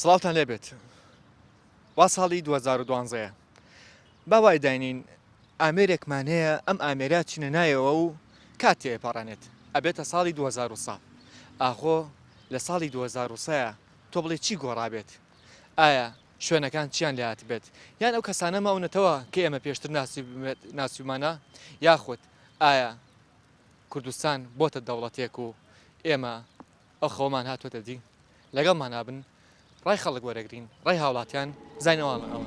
سڵاوتان لێ بێت وا ساڵی 2012ەیە با وای داینین ئامێرێکمان هەیە ئەم ئامێرە چینە نایەوە و کات تێپەڕێنێت ئەبێتە ساڵی 2000 ئاخۆ لە ساڵی 2000 تۆ بڵێ چی گۆڕابێت ئایا شوێنەکان چیان لێ هاتبێت؟ یان ئەو کەسانە ماونەتەوە کە ئێمە پێشتر ناسیومانە؟ یاخود ئایا کوردستان بۆتە دەوڵەتێک و ئێمە ئەو خەوەمان هاتووەتە دی؟ لەگەڵمانابن ڕای خەڵک وەرەگرین ڕای هاوڵاتیان بزانین ئەوان ئەوە.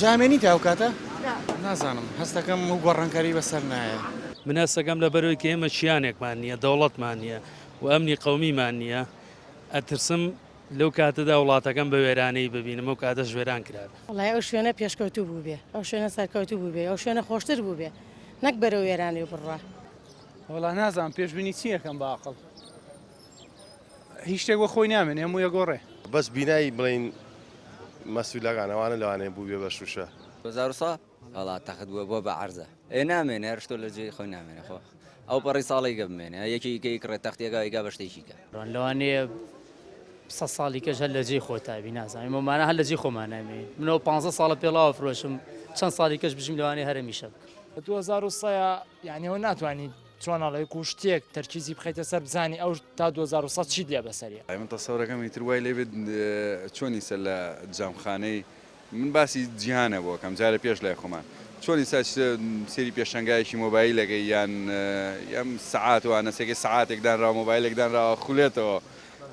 جامێنی تا ئەو کاتە نازانم هەستەکەم و گۆڕانکاری بەسەر نایە منە سەگەم لە بەرەوەی کە ئێمە چیانێکمان نییە دەوڵەتمان نییە و ئەمنی قومیمان نییە ئەترسم لەو کاتەدا وڵاتەکەم بە وێرانەیی ببینم ئەو کاتەش وێران کرابێ. وەڵای ئەو شوێنە پێشکەوتوو بووبێ، ئەو شوێنە سەرکەوتوو بووبێ، ئەو شوێنە خۆشتر بووبێ، نەک بەرەو وێرانێ بڕوا. وەڵا نازانم پێشبینی چی ئەکەم بە ئەقڵ هیچ شتێک وەک خۆی نامێنێ هەموو ئەگۆڕێ. بەس بینای بڵێین مەسولەکان ئەوانە لەوانەیە بووبێ بە شووشە. وزارسا وەڵا تەخت بووە بۆ بە عەرزە. ئێ نامێنێ هەر شتۆ لە جێی خۆی نامێنێ خۆ ئەو پەڕی ساڵەی گە بمێنێ یەکی ئیکە ئیکڕێ تەختیەکە ئیکا بە شتێکی کە. لەوانەیە سەد ساڵی کەش هەر لە جێی خۆتا بی نازانم ئێمە مانە هەر لە جێی خۆمان نامێنێ منەوە پانزە ساڵە پێڵاوە فرۆشم چەند ساڵی کەش بژیم لەوانەیە هەر ئەمیشە بکەم. بە دوو هەزار و سەیا یانی ئەوە ناتوانی چۆن ئەڵێ کو شتێک تەرکیزی بخەیتە سەر بزانی ئەو تا دوو هەزار و سەد چیت لێ بەسەریە. ئەی من تەسەورەکەم ئیتر وای لێ بێت چۆنیسە لە جامخانەی من باسی جیهانە بۆ کەم جارە پێش لای خۆمان چۆن ئیستا سێری پێشەنگایەکی مۆبایلەکەی یان ئەم سعات وانە سێکەی سعاتێک دانراوە مۆبایلێک دانراوە خولێتەوە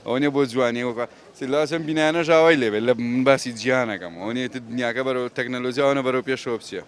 ئەوە نیە بۆ جوانی وەکە سلاسم بینانە ژاوای لێبێت لە من باسی جیانەکەم ئەوەیە دنیاکە بەرەوە تەکنەلۆژیاوانە بەرەو پێشەوە بچێت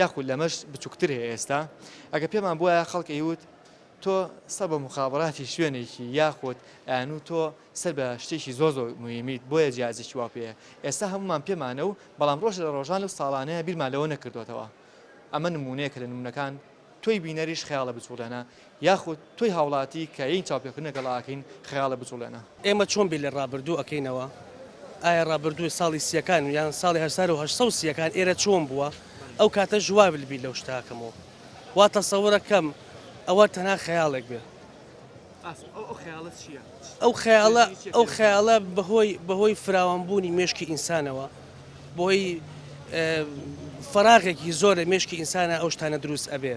یاخود لەمەش بچوکتر هەیە ئێستا ئەگە پێمان بوایە خەڵک ئەیوت تۆ سەر بە موخابراتی شوێنێکی یاخود ئەیانوت تۆ سەر بە شتێکی زۆر زۆر مهمیت بۆیە جیازێکی وا پێ ئێستا هەمومان پێمانە و بەڵام ڕۆژ لە ڕۆژان و ساڵانەیە بیرمان لەوە نەکردوتەوە ئەمە نمونەیەکە لە نمونەکان تۆی بینەریش خەیاڵە بچوڵێنە یاخود تۆی هاوڵاتی کە ین چاوپێکەوتن لەگەڵ ئاکەین خەیاڵە بجوڵێنە. ئێمە چۆن بیر لە ڕابردوو ئەکەینەوە؟ ئایا ڕابردوو ساڵی سیەکان یان ساڵی هەسار و هەشت سەد و سیەکان ئێرە چۆن بووە؟ ئەو کاتەش وا بیر لەو شتە ئەکەمەوە وا تەسەورە کەم ئەوە تەنها خەیاڵێک بێ. ئەو خەیاڵە چیە؟ ئەو خەیاڵە ئەو خەیاڵە بەهۆی بەهۆی فراوان بوونی مێشکی ئینسانەوە بەهۆی فەراغێکی زۆر لە مێشکی ئینسانا ئەو شتانە دروست ئەبێ.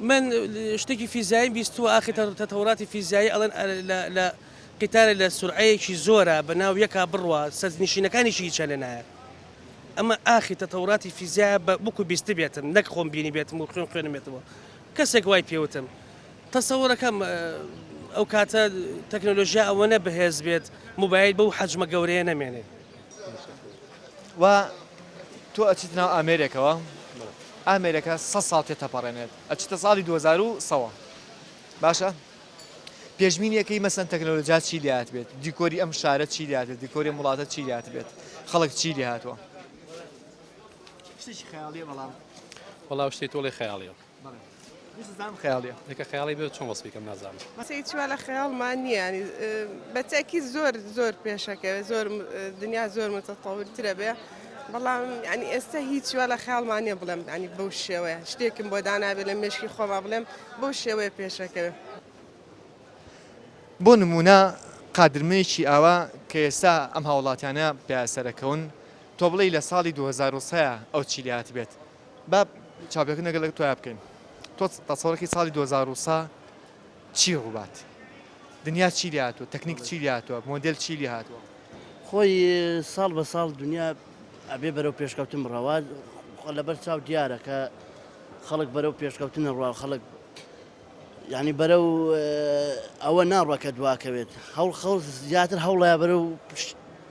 من شتێکی فیزیاییم بیستووە ئاخر تەتەوراتی فیزیایی ئەڵێن لە قیتارە لە سورعەیەکی زۆرە بە ناو یەکا بڕوا سەرنشینەکانیشی هیچە لێ نایە ئەمە ئاخی تەتەوراتی فیزیایە بە بکو بیست بێتم نەک خۆم بینی بێتم و خوێن خوێنمێتەوە کەسێک وای پێوتم تەسەوەرەکەم ئەو کاتە تەکنۆلۆژیا ئەوەنە بەهێز بێت موبایل بەو حەجمە گەورەیە نەمێنێت وا تۆ ئەچیتە ناو ئامێرێکەوە ئامێرەکە سە ساڵ تێ تەپەڕێنێت ئەچتە ساڵی 2000ەوە باشە پێشمینیەکەی مەسەن تەکنەلۆجا چی لات بێت دیکۆری ئەم شارە چی لات دیکۆری وڵاتە چی لات بێت خەڵک چی لێ هاتووە وڵاو شتی تۆڵی خەیاڵیەوە بەڵێ ویست زانم خەیاڵیە لەکە خەیاڵی بێت چۆن وەسفی کەم نازانم مەسەی چوە لە خەیاڵمان نییە بەتەکی زۆر زۆر پێشەکەوێت زۆر دنیا زۆر متەتەورترە بێ بەڵام ینی ئێستا هیچ وە لە خیاڵمان نیە بڵێم ینی بەو شێوەیە شتێکم بۆ دانابێت لە مێشکی خۆما بڵێم بۆ شێوەیە پێشەکەوێت بۆ نمونە قادرمەیەکی ئاوا کە ئێستا ئەم هاوڵاتیانە پیاسەرەکەون تۆ بڵێ لە ساڵی 2023 ئەو چیلیات بێت با چاوپێکەوتن لەگەڵ لەگەڵ تۆیا بکەین تۆ تەسەوڕەکی ساڵی دوو هەزار و سە چی ڕووبات دنیا چی لێ هاتووە تەکنیک چی لێ هاتووە مۆدێل چی لێ هاتووە خۆی ساڵ بە ساڵ دنیا ئەبێ بەرەو پێشکەوتن بڕەوە خۆ لەبەر چاو دیارە کە خەڵک بەرەو پێشکەوتنە ڕوا خەڵک ینی بەرە و ئەوە ناڕەکە دواکەوێت هەوڵ خەڵ زیاتر هەوڵە بەرە و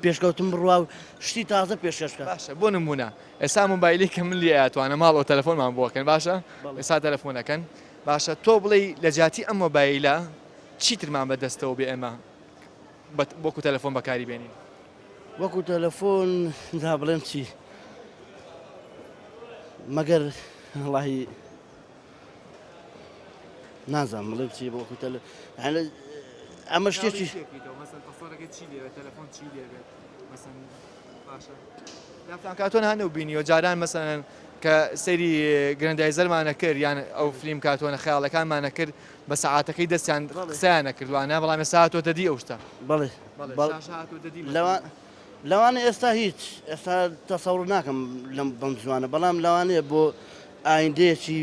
پێشکەوتن بڕوا و شتی تازە پێشکەشکە باشە بۆ نمونە ئێستا مۆبایلی کە من لێ ئەتوانم ماڵەوە تەلەفۆنمان بۆ ئەکەن باشە ئێستا تەلەفۆن ئەکەن باشە تۆ بڵێی لە جیاتی ئەم مۆبایلە چیترمان بە دەستەوە بێ ئێمە وەکو تەلەفۆن بەکاری بێنین وەکو تەلەفۆن دا بڵێم چی مەگەر وڵی نازان بڵێ چی بۆ وەکو تەلە ئەمە شتێکی باشە دەستان کات تۆ هەنە و بینیوە جاران مەسەن کە سەیری گرندایزەرمانە کرد یان ئەو فلیم کاتۆنە خیاڵەکانمانە کرد بە سەعاتەکەی دەستیان قسەیانە کردوانە بەڵام سااتۆ دەدی ئەو شتە بڵێ لەوانە ئێستا هیچ ئێستا تەسەڕ ناکەم لەم بەم زوانە بەڵام لەوانەیە بۆ ئایندەیەکی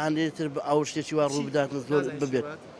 هەندێتر بە ئەو شتێکی وا ڕوو بدات زۆر ببێت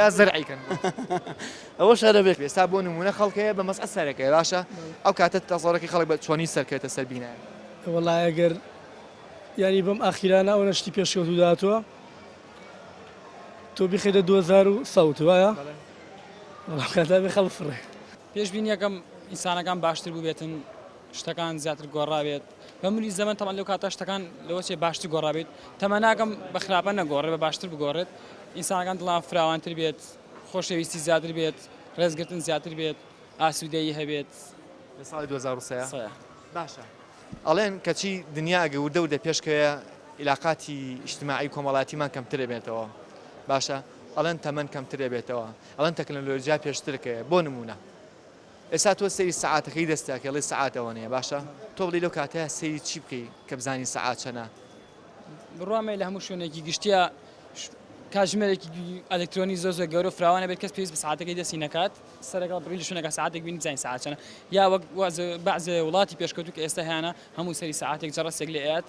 یا زەرعی کەن ئەوە شارە بێت ئێستا بۆ نمونە خەڵکەیە بە مەسعە سەرەکەی باشە ئەو کاتە تەزۆرەکەی خەڵک بە چۆنی سەرکەێتە سەر بینایە وڵای ئەگەر یاری بەم ئاخیرانە ئەو نەشتی پێشکەوتو داتوە تۆ بخێدە 2000 و سەوت وایە کاتا بێ خەڵ فڕێ پێشبینیەکەم ئینسانەکان باشتر بووبێتن شتەکان زیاتر گۆڕاوێت بە ملی زەمەن تەبعەن لەو کاتە شتەکان لەوە چێ باشتر گۆڕابێت تەمە ناکەم بە خراپە نەگۆڕێ بە باشتر بگۆڕێت ئینسانەکان دڵان فراوانتر بێت خۆشەویستی زیاتر بێت ڕێزگرتن زیاتر بێت ئاسوودەیی هەبێت لە ساڵی 2023 سەیە باشە ئەڵێن کەچی دنیا ئەگە وردە وردە پێشکەوێ عیلاقاتی ئیجتماعی کۆمەڵاتیمان کەمتر دەبێتەوە باشە ئەڵێن تەمەن کەمتر دەبێتەوە ئەڵێن تەکنەلۆجیا پێشترکەوێ بۆ نموونە ئێستا تۆ سەیری سەعاتەکەی دەستتە ئەکەی ئەڵێی سەعات ئەوەنەیە باشە تۆ بڵێی لەو کاتەیا سەیری چی بکەی کە بزانی سەعات چەنە؟ بڕوامەیە لە هەموو شوێنێکی گشتیا کاتژمێرێکی ئەلکترۆنی زۆر زۆر گەورە فراوانە بێت کەس پێویست بە ساعتەکەی دەستی نەکات سەرەکە بڕی لە شوێنەکە ساعتێک بینی زانین ساعت چەنە یا وەک بەعزێ وڵاتی پێشکەوتوو کە ئێستا هەیانە هەموو سەری ساعتێک جەڕەسێک لێ ئەیات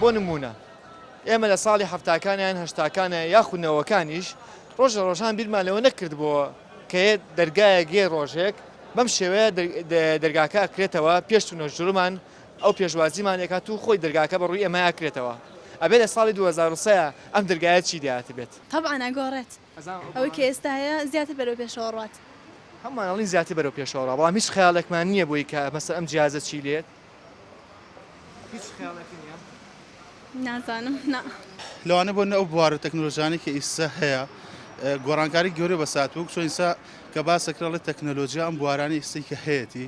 بۆ نموونە ئێمە لە ساڵی حەفتاکان یان هەشتاکانە یاخود نەوەکانیش ڕۆژە ڕۆژان بیرمان لەوە نەکردبووە کە یە دەرگایەک یە ڕۆژێک بەم شێوەیە دەرگاکە ئەکرێتەوە پێش و نەژرمان ئەو پێشوازیمان لێکات و خۆی دەرگاکە بە ڕووی ئێمە ئەکرێتەوە ئەبێ لە ساڵی 2023 ئەم دەرگایە چی دەاتبێت؟ تەبعەن ئەگۆڕێت. ئەوەی کە ئێستا هەیە زیاتر بەرەو پێشەوە ڕوات. هەموومان ئەڵێن زیاتر بەرەو پێشەوە ڕا بەڵام هیچ خەیاڵێکمان نییە بۆی کە مەسەن ئەم جیازە چی لێت؟ هیچ خەیاڵێک نییە؟ نازانم نا. لەوانەیە بۆ ئەو بوار و تەکنەلۆژیانەی کە ئیستا هەیە گۆڕانکاری گەورەی بەسەر هاتووە وەکو چۆن ئیستا کە باسە کرا ئەڵێ تەکنەلۆژیا ئەم بوارانەی ئیستەی کە هەیەتی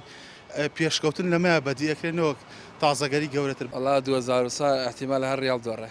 پێشکەوتن لەمەیە بەدیئەکرێ نەوەک تازەگەری گەورەتر. وەڵا دوەزارو سا ئیحتیمالە هەر ڕیاڵ دۆڕێ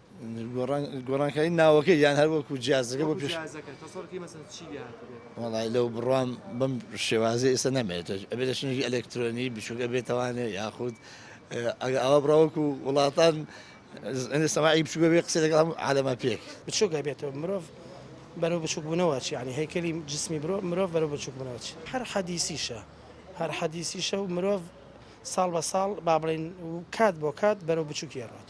گۆڕانکاری ناوەکەی یان هەر وەکو جیازەکە بۆ پێش وڵای لەو بڕام بەم شێوازی ئێستا نامێت ئەبێت لە شنێکی ئەلکترۆنی بچووکە بێتوانێ یاخود ئەگە ئەوە بڕاوەکو وڵاتان ئەێ سەماعی بچووکە بێ قسە لەگەڵ هەم عالەما پێک بچووکە بێتەوە مرۆڤ بەرەو بچووکبوونەوە چی ینی هەیکەلی جسمی برۆ مرۆڤ بەرەو بچووکبوونەوە چی هەر حەدیسیشە هەر حەدیسیشە و مرۆڤ ساڵ بە ساڵ با بڵین کات بۆ کات بەرەو بچووکی ڕات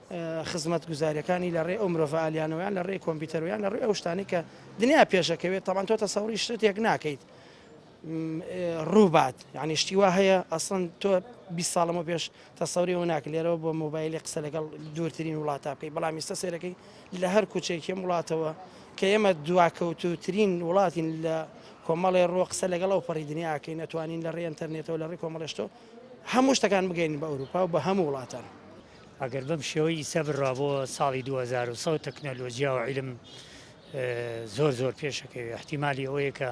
خزمەتگوزاریەکانی لە ڕێی ئەو مرۆڤە ئالیانەوە یان لە ڕێی کۆمپیوتەرەوە یان لە ڕێی ئەو شتانەی کە دنیا پێشەکەوێت تەمان تۆ تەسەوری شتێک ناکەیت ڕووبات یعنی شتی وا هەیە ئەسڵەن تۆ 20 ساڵەمە پێش تەسەوری و ناک لێرەوە بۆ مۆبایلی قسە لەگەڵ دوورترین وڵاتە بکەی بەڵام ئیستا سێرەکەی لە هەر کوچێکی وڵاتەوە کە ئێمە دواکەوتوترین وڵاتین لە کۆمەڵێ ڕۆ قسە لەگەڵ ئەو پەڕی دنیاکەی نەتوانین لە ڕێ ئەتەرنێتەوە لە ڕێ کۆمەڵێشتۆ هەموو شتەکان بگەین بە ئەوروپا و بە هەموو وڵاتان. ئەگەر بەم شێوە ئیستا بڕا بۆ ساڵی دوو هەزار و سەد تەکنەلۆجیا و عیلم زۆر زۆر پێشەکەوێ احتیممالی ئەوەیە کە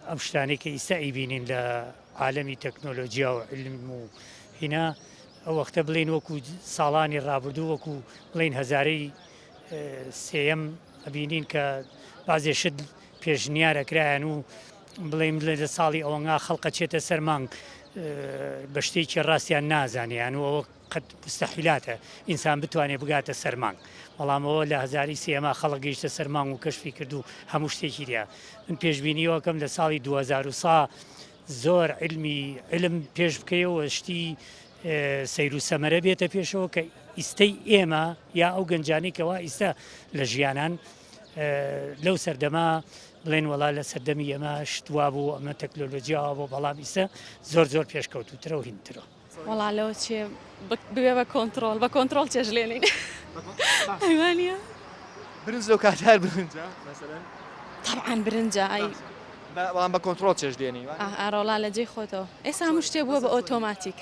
ئەم شتانەی کە ئیستا ئیبینین لە عالەمی تەکنۆلۆجیا و علم و هینا ئەو وەختە بڵین وەکو ساڵانی ڕابردوو وەکو بڵین هەزارەی سێەم ئەبینین کە بازێ شت پێشنیارەکرایەن و بڵێم لە ساڵی ئەوەنگا خەڵقە چێتە سەرمانگ بە شتێکی ڕاستیان نازانیان و ئەوە قەت مستەحیلاتە ئینسان بتوانێ بگاتە سەر مانگ بەڵام ئەوە لە هەزاری سێما خەڵک گەیشتە سەر مانگ و کەشفی کرد و هەموو شتێکی لیا من پێشببینیەوەکەم لە ساڵی 2000 سا زۆر علمی علم پێش بکەیەوە شتی سەیر و سەمەرە بێتە پێشەوە کە ئیستەی ئێمە یا ئەو گەنجانی کەوا ئیستا لە ژیانان لەو سەردەما بڵێن وڵا لە سەردەمی ئەمە شتوا بوو ئەمە تەکنۆلۆژیاوە بۆ بەڵام ئیسە زۆر زۆر پێشکەوتوترەوە هینترەوە وەڵا لۆ چێ ببێ بە کۆنتڕۆڵ بە کۆنتڕۆڵ چێژلێنین ئەیوانە برنج لەو کات هەر برنجە مەسەلەن طبعا برنجە ئای بەڵام بە کۆنترۆڵ چێش دێنی ئارۆڵا لە جێی خۆتەوە ئێستا هەموو شتێ بووە بە ئۆتۆماتیک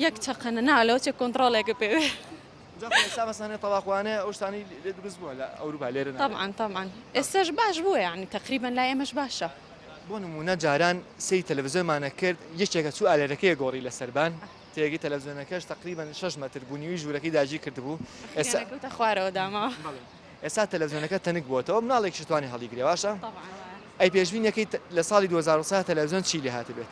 یەک چقەنە نالەوە چێ کۆنتترۆلێکە پێوێ. تەبعەن تەبعەن ئێستاش باش بووە یەعنی تەقریبەن لای ئێمەش باشە. بۆ نموونە جاران سەیری تەلەفزیۆنمان ئەکرد یەکێک ئەچوو ئالێرەکەی ئەگۆڕی لە سەربان تێگەی تەلەفزیۆنەکەش تەقریبەن شەش مەتر بوو نیوی ژوورەکەی داگیر کردبوو ئێستا. ئەخوارەوە داماوە. ئێستا تەلەفزیۆنەکە تەنک بۆتەوە مناڵێکیش توانی هەڵیگرێ باشە ئەی پێشبینەکەی لە ساڵی 2023 تەلەڤزیۆن چی لێ هاتبێت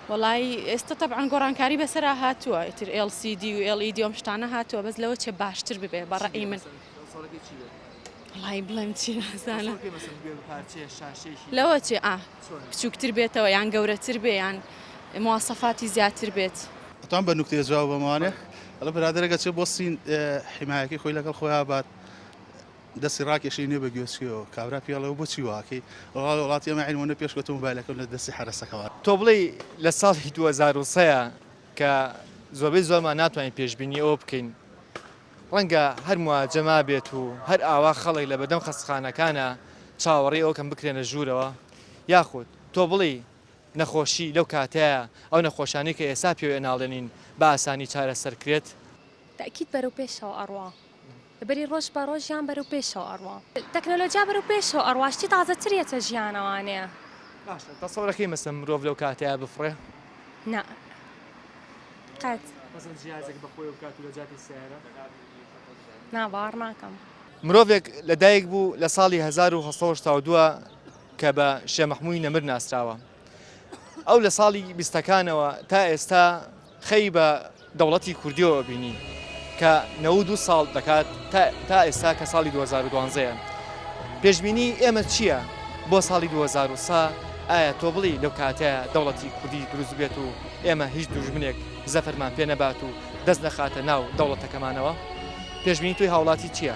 وڵی ئێستا تەعاان گۆڕانکاری بەسرا هاتووە ئیتر LCD و LED ئەم شتانە هاتووە بەس لەوە چێ باشتر ببێ بەڕێی من وڵی بڵێم چی نازانە لەوە چێ ئا بچووکتر بێتەوە یان گەورەتر بێ یان موواسەفاتی زیاتر بێت. ئەتوان بە نوکتەیە جواب بەمانێ ئەڵێ برادەرەکە چێ بۆ سین حیمایەکەی خۆی لەگەڵ خۆیا بات دەستی ڕاکێشی نێ بە گوێچکەوە کابرا پێڵێ و بۆچی واکەی ڕاڵ وڵاتی ئەمە عین وەنە پێش کەوتم بالەکەم لە دەستی حرەسەکەوە. تۆ بڵێی لە ساڵی دوو هەزار و سێ ە کە زۆربەی زۆرمان ناتوانین پێشبینی ئەوە بکەین ڕەنگە هەر مواجە مابێت و هەر ئاوا خەڵک لە بەردەم خەستخانەکانا چاوەڕێی ئەوکەن بکرێنە ژوورەوە یاخود تۆ بڵێی نەخۆشی لەو کاتەیە، ئەو نەخۆشانەی کە ئێستا پێوەی ناڵێنین بە ئاسانی چارەسەر کرێت. تەئکید بەرەو پێشەوە ئەڕوا. بەری ڕۆژ بە ڕۆژ ژیان بەرەو پێشەوە ئەڕوا. تەکنۆلۆجیا بەرەو پێشەوە ئەڕوا شتی تازە تر یەتە ژیانەوانێ. باشە تەسەورە کەی مەسەن مرۆڤ لەو کاتەیە بفڕێ؟ نا قەت. مەسەن جیازێک بە خۆیەو بکات و لە جاتی سەیارە؟ نا باوەڕ ناکەم. مرۆڤێک لە دایک بوو لە ساڵی هەزار و هەشت سەد و هەشتا و دوو کە بە شێ مەحمووی نەمر ناسراوە ئەو لە ساڵی بیستەکانەوە تا ئێستا خەی بە دەوڵەتی کوردیەوە بینی کە نەود و ساڵ دەکات تا ئێستا کە ساڵی 2012ەیە پێشببینی ئێمە چییە بۆ ساڵی 2023 ئایا تۆ بڵی لەو کاتە دەوڵەتی کوردی دروست بێت و ئێمە هیچ دوژمنێک زەفەرمان پێ نەبات و دەست نەخاتە ناو دەوڵەتەکەمانەوە پێشببینی توی هاوڵاتی چییە؟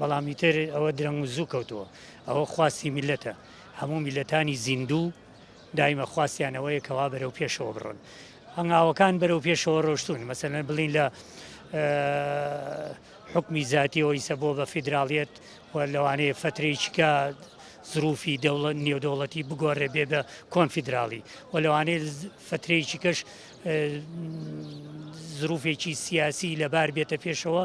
بەڵام ئیتر ئەوە درەنگ و زوو کەوتووە ئەوە خواستی میلەتە هەموو میلەتانی زیندوو دایمە خواستیانەوەیە کەوا بەرەو پێشەوە بڕن هەنگاوەکان بەرەو پێشەوە ڕۆشتون مەسەن بڵین لە حکمی زیاتیەوە ئیسە بۆ بە فیدراالیت و لەوانەیە فترێکیکە زروفی دەوڵەت نێودەوڵەتی بگۆڕێ بێ بە کۆنفیدراڵی و لەوانەیە فترێکیکەش زروفێکی سیاسی لەبار بێتە پێشەوە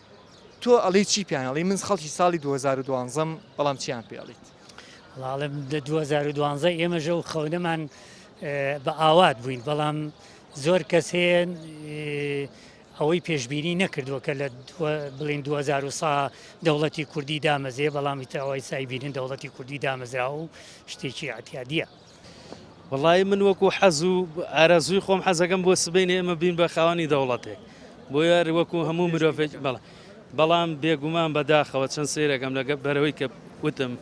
تۆ ئەڵێی چی پێیان ئەڵێی من خەڵکی ساڵی 2012 م بەڵام چیان پێ ئەڵیت؟ وڵاڵم لە 2012 ئێمەژە و خەونەمان بە ئاوات بووین بەڵام زۆر کەس هەیە ئەوەی پێشببینی نەکردووە کە لە بڵین 2000 سا دەوڵەتی کوردی دامەزێ بەڵامی تاوای سایبیرن دەوڵەتی کوردی دامەزرا و شتێکی عتیادە. وەڵایی من وەکو حەز و ئارەزووی خۆم حەزەکەم بۆ سبینێ ئێمە بین بە خاوەنی دەوڵەتێک بۆ یار وەکو هەموو مرۆڤێک بەڵ بەڵام بێگومان بەداخەوە چەند سیرەکەم لەگە بەرەوەی کە وتم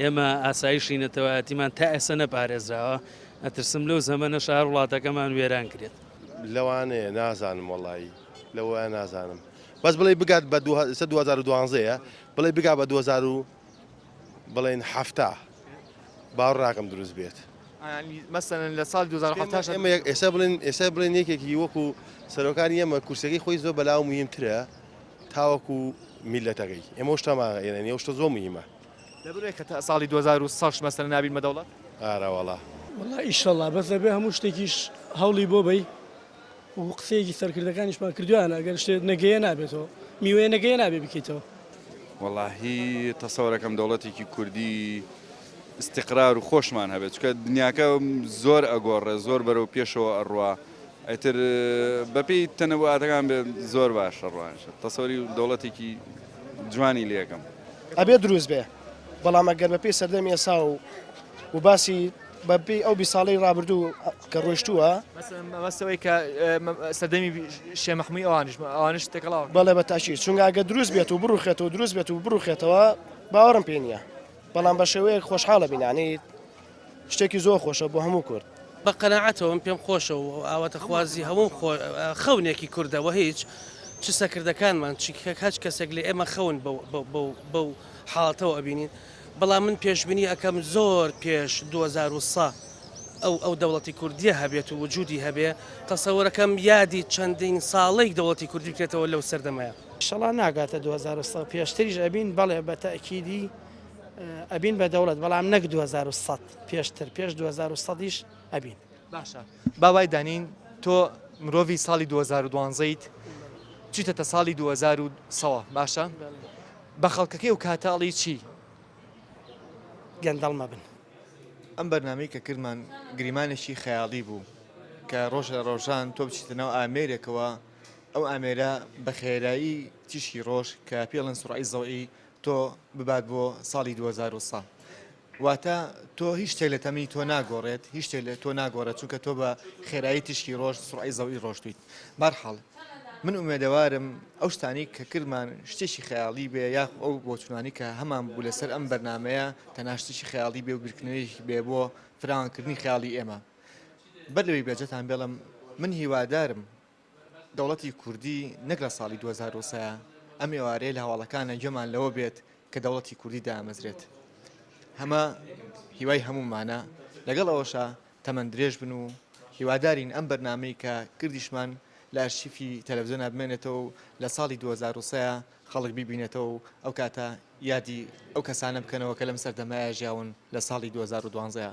ئێمە ئاسایشی نەتەوایەتیمان تا ئێسە نەپارێزراوە ئەترسم لەو زەمەە شار وڵاتەکەمان وێران کرێت لەوانەیە نازانم وەڵایی لەوە نازانم بەس بڵێ بگات بە 2012 بڵێ بگا بە 2000 بڵێن حەفتا با ڕاقم دروست بێت مەسەن لە سال 2010 ئێستا بڵێن ئێستا بڵێن یەکێکی وەکو سەرۆکان ئێمە کورسەکەی خۆی زۆر بەلاو مهمترە تاوەکو میلەتەکەی ئێمە شتەما ئێنە شتە زۆر مهمە دەبێت کە تا ساڵی 2006 مەسەر نابین مەدەوڵەت ئارەوەڵا والله ئیشەڵا بەس دەبێ هەموو شتێکیش هەوڵی بۆ بەی وەکو قسەیەکی سەرکردەکانیشمان کردویانە ئەگەر شتێ نەگەیە نابێتەوە میوەیە نەگەیە نابێ بکەیتەوە. وەڵاهی تەسەوەرەکەم دەوڵەتێکی کوردی ئیستیقرار و خۆشمان هەبێ چونکە دنیاکە زۆر ئەگۆڕێ زۆر بەرەو پێشەوە ئەڕوا ئیتر بەپێی تەنەواتەکان بێ زۆر باش ئەڕوانش تەسەوەری دەوڵەتێکی جوانی لەکەم ئەبێ دروست بێ بەڵام ئەگەر بەپێی سەردەمی ئێسا و و باسی بەپێی ئەو بی ساڵەی ڕابردوو کە ڕۆیشتووە. مەبەست ئەوەی کە سەردەمی شێ مەحمووی ئەوانیش بوو، ئەوانیش تێکەڵاون. بەڵێ بە تاکید، چونکە ئەگەر دروست بێت و بڕووخێت و دروست بێت و بڕووخێتەوە باوەڕم پێ نییە، بەڵام بە شێوەیەک خۆشحاڵە بینانیت، شتێکی زۆر خۆشە بۆ هەموو کورد. بە قەناعەتەوە، من پێم خۆشە و ئاواتەخوازی هەموو خەونێکی کوردە و هیچ، چ سەکردەکانمان چ هەچ کەسێک لە ئێمە خەون بەو حاڵەتەوە ئەبینین، بەڵام من پێشبینی ئەکەم زۆر پێش دوو هەزار و سە ئەو ئەو دەوڵەتی کوردیە هەبێت و وجودی هەبێ تەسەورەکەم یادی چەندین ساڵەی دەوڵەتی کوردی بکرێتەوە لەو سەردەمەیا. ئیشەڵا ناگاتە دوو هەزار و سە پێشتریش ئەبین بەڵێ بە تەئکیدی ئەبین بە دەوڵەت بەڵام نەک دوو هەزار و سەد پێشتر پێش دوو هەزار و سەد یش ئەبین. باشە با وای دانێین تۆ مرۆڤی ساڵی دوو هەزار و دوازدە یت چیتەتە ساڵی دوو هەزار و سەوە باشە بە خەڵکەکەی و کاتە ئەڵی چی گەندەڵ مەبن. ئەم بەرنامەی کە کردمان گریمانێکی خەیاڵی بوو کە ڕۆژ لە ڕۆژان تۆ بچیتە ناو ئامێرێکەوە ئەو ئامێرە بە خێرایی تیشکی ڕۆژ کە پێڵن سرعی زەوئی تۆ ببات بۆ ساڵی 2023 واتە تۆ هیچ شتێک لە تەمنی تۆ ناگۆڕێت هیچ شتێک لە تۆ ناگۆڕێت چونکە تۆ بە خێرایی تیشکی ڕۆژ سڕعی زەوی ڕۆشتویت بارحاڵ من ئومێدەوارم ئەو شتانی کە کردمان شتێکی خەیاڵی بێ یاخ ئەو بۆچوونانی کە هەمان بوو لەسەر ئەم بەرنمەیە تەناشتێکی خەیاڵی بێ و بیرکردنەوەی بێ بۆ فراوانکردنی خیاڵی ئێمە بەر لەوەی بێجەتان بێڵم من هیوادارم دەوڵەتی کوردی نەک لە ساڵی دوو هەزار و سێ ئەم ئێوارەیە لە هەواڵەکانە گوێمان لەوە بێت کە دەوڵەتی کوردی دامەزرێت هەمە هیوای هەمومانە لەگەڵ ئەوەشە تەمەند درێژ بن و هیوادارین ئەم بەرنمەی کە کردیشمان لە ئەرشیفی تەلەڤزیۆن بمێنێتەوە و لە ساڵی 2023 خەڵک بیبینێتەوە و ئەو کاتە یادی ئەو کەسانە بکەنەوە کە لەم سەردەمایە ژیاون لە ساڵی 2012